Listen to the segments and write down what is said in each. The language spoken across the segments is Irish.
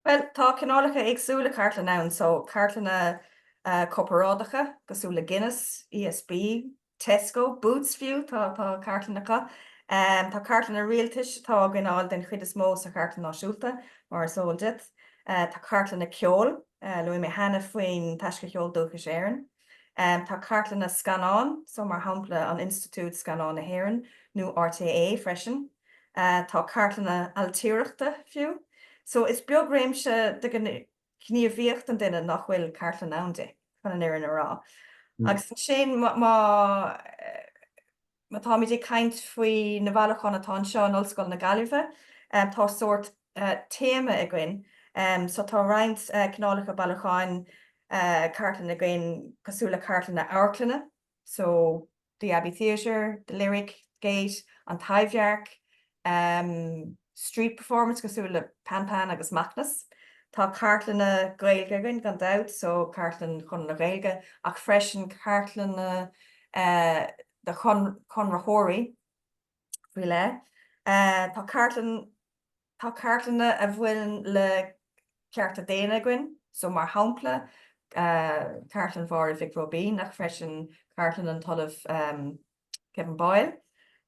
Bhuel, tá cineálacha éagsúla cartlann ann, so cartlanna corparáideacha cosúil le Guinness, ESB, Tesco, Boots fiú, tá cartlann acu. Tá cartlanna rialtais atá againn ann den chuid is mó sa Chartlann Náisiúnta, mar is eol duit. Tá cartlanna ceoil, luaigh mé cheana faoin Taisce Cheol Dúchais Éireann. Tá cartlanna scannán, so mar shampla an Institiúid Scannán na hÉireann nó RTÉ freisin. tá cartlanna ailtireachta fiú, so is beag réimse de ghníomhaíocht an duine nach bhfuil cartlann ann di, chun an fhírinne a rá. Agus ansin má táimid ag caint faoi na bailiúcháin atá anseo in Ollscoil na Gaillimhe, tá sórt téama againn, so tá roinnt cineálacha bailiúcháin cartlainne againn cosúil le cartlanna amharclainne, so the Abbey Theatre, the Lyric, Gate, an Taibhdhearc, em street performance cosúil le Pan Pan agus Macnas. Tá cartlanna Gaeilge againn gan dabht so cartlann Chonradh na Gaeilge ach freisin cartlanna eh de chonraitheoirí faoi leith. Eh tá cartlann. Tá cartlanna a bhaineann le cearta daonna againn, so mar shampla cartlann Mháire Mhic Róibín ach freisin cartlann an tOllamh Kevin Boyle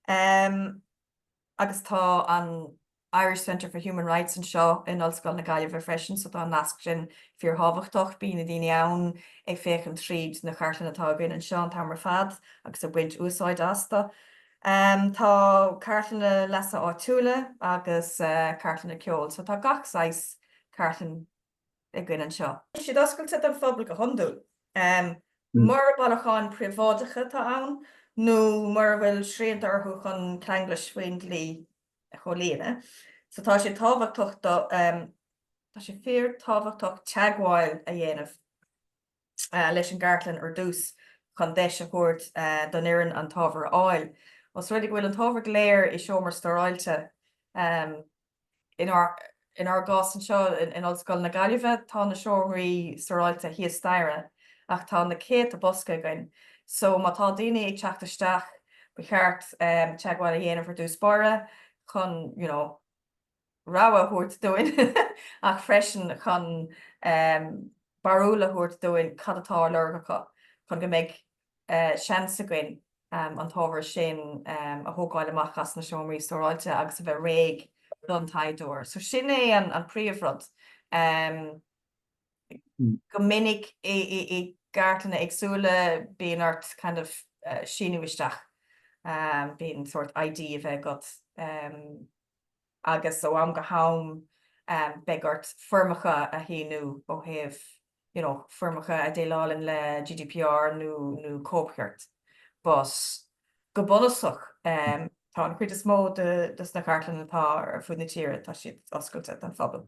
agus tá an Irish Centre for Human Rights anseo in Ollscoil na Gaillimhe freisin so tá an nasc sin fíor thábhachtach. Bíonn na daoine ann ag féachaint tríd na cartlanna atá againn anseo an t-am ar fad agus ag baint úsáid astu. Tá cartlanna leasa áitiúla agus cartlanna ceoil so tá gach saghas cartlann againn anseo. Tá siad oscailte don phobal go hiondúil. Mura bailiúcháin príobháideacha atá ann nó mura bhfuil srianta orthu chun ceanglais faoin dlí a chomhlíonadh so tá sé tábhachtach tá sé fíor tábhachtach teagmháil a dhéanamh leis an gcartlann ar dtús chun deis a thabhairt don fhoireann an t-ábhar a fháil. Os rud é go bhfuil an t-ábhar go léir i seomra stóráilte, inár gcás anseo in Ollscoil na Gaillimhe, tá na seomraí stóráilte thíos staighre ach tá na céadta bosca againn so má tá daoine ag teacht isteach ba cheart teagmháil a dhéanamh ar dtús báire chun, you know, rabhadh a thabhairt dúinn ach freisin chun barúil a thabhairt dúinn cad atá á lorg acu chun go mbeidh seans againn an t-ábhar sin a thógáil amach as na seomraí stóráilte agus a bheith réidh don taighdeoir. So sin é an príomhrud. Go minic i gcartlanna éagsúla bíonn ort kind of síniú isteach, bíonn sórt ID a bheith agat. agus ó am go ham beidh ort foirmeacha a shíniú ó thaobh, you know, foirmeacha a dhéileálann le GDPR nó cóipchirt. But, go bunúsach, tá an chuid is mó de sna cartlanna atá ar fud na tíre, tá siad oscailte don phobal.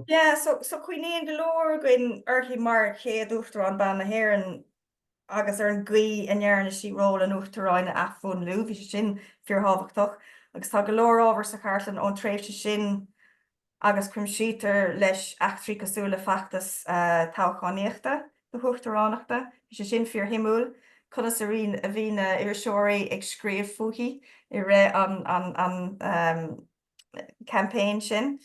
Yeah, so, so cuimhníonn go leor againn uirthi mar chéad Uachtarán ban na hÉireann agus ar an gcaoi a ndearna sí ról an Uachtaráin a athmhúnlú. Bhí sé sin fíorthábhachtach agus tá go leor ábhar sa chartlann ón tréimhse sin agus cuimsítear leis eachtraí cosúil le feachtas toghchánaíochta na huachtaránachta. Bhí sé sin fíorshuimiúil, conas a bhí na iriseoirí ag scríobh fúithi i rith an campaign sin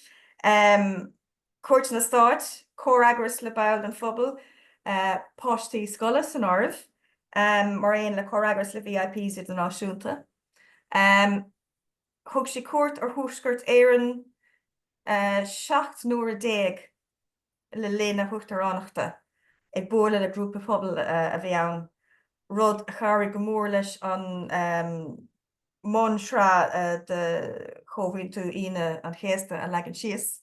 cuairteanna stáit, comhfhreagras le baill den phobal, páistí scoile san áireamh, mar aon le comhfhreagras le VIPs idirnáisiúnta. Thug sí cuairt ar Thuaisceart Éireann 17 n-uaire le linn a huachtaránachta, ag bualadh le grúpaí pobail a bhí ann, rud a chabhraigh go mór leis an mbunsraith de Chomhaontú Aoine an Chéasta a leagan síos.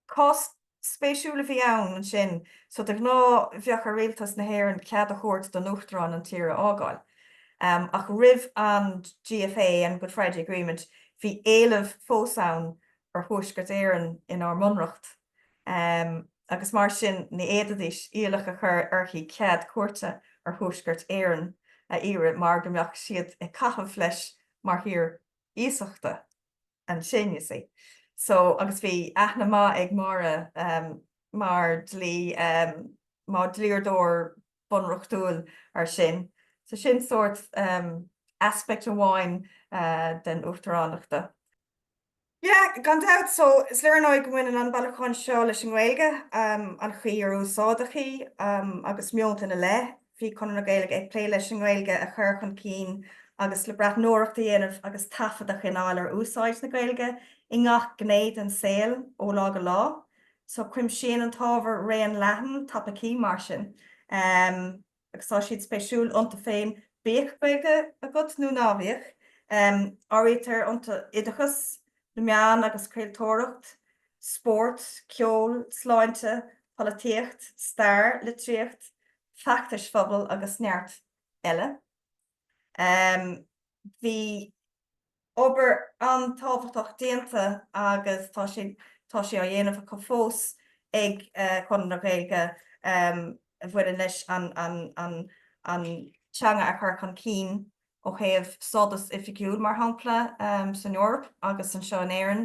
Cás spéisiúil a bhí ann ansin, so de ghnáth bheadh ar Rialtas na hÉireann cead a thabhairt don Uachtarán an tír a fhágáil, ach roimh an GFA, an Good Friday Agreement, bhí éileamh fós ann ar Thuaisceart Éireann inár mBunreacht. agus mar sin ní fhéadfaidís iallach a chur uirthi cead cuairte ar Thuaisceart Éireann a iarraidh mar go mbeadh siad ag caitheamh leis mar thír iasachta ansin, you see. So, agus bhí aithne maith ag Máire mar dlí, mar dhlíodóir bunreachtúil ar sin. So sin sórt aspect amháin den Uachtaránacht. Yeah, gan dabht, so is léir ar ndóigh go mbaineann an bailiúchán seo leis an nGaeilge, an chaoi ar úsáideadh í agus meonta ina leith. Bhí Conradh na Gaeilge ag plé leis an nGaeilge a chur chun cinn agus le breathnóireacht a dhéanamh agus taifead a choinneáil ar úsáid na Gaeilge i ngach gné den saol ó lá go lá. So cuimsíonn an t-ábhar raon leathan topaicí mar sin. agus tá siad spéisiúil iontu féin bíodh Gaeilge agat nó ná bíodh. Áirítear iontu oideachas, na meáin agus craoltóireacht, spórt, ceol, sláinte, polaitíocht, stair, litríocht, feachtais phobail agus neart eile. Bhí obair an-tábhachtach déanta agus tá sé tá sé á dhéanamh acu fós ag Conradh na Gaeilge a bhaineann leis an an teanga a chur chun cinn ó thaobh stádas oifigiúil, mar shampla, san Eoraip agus anseo in Éirinn.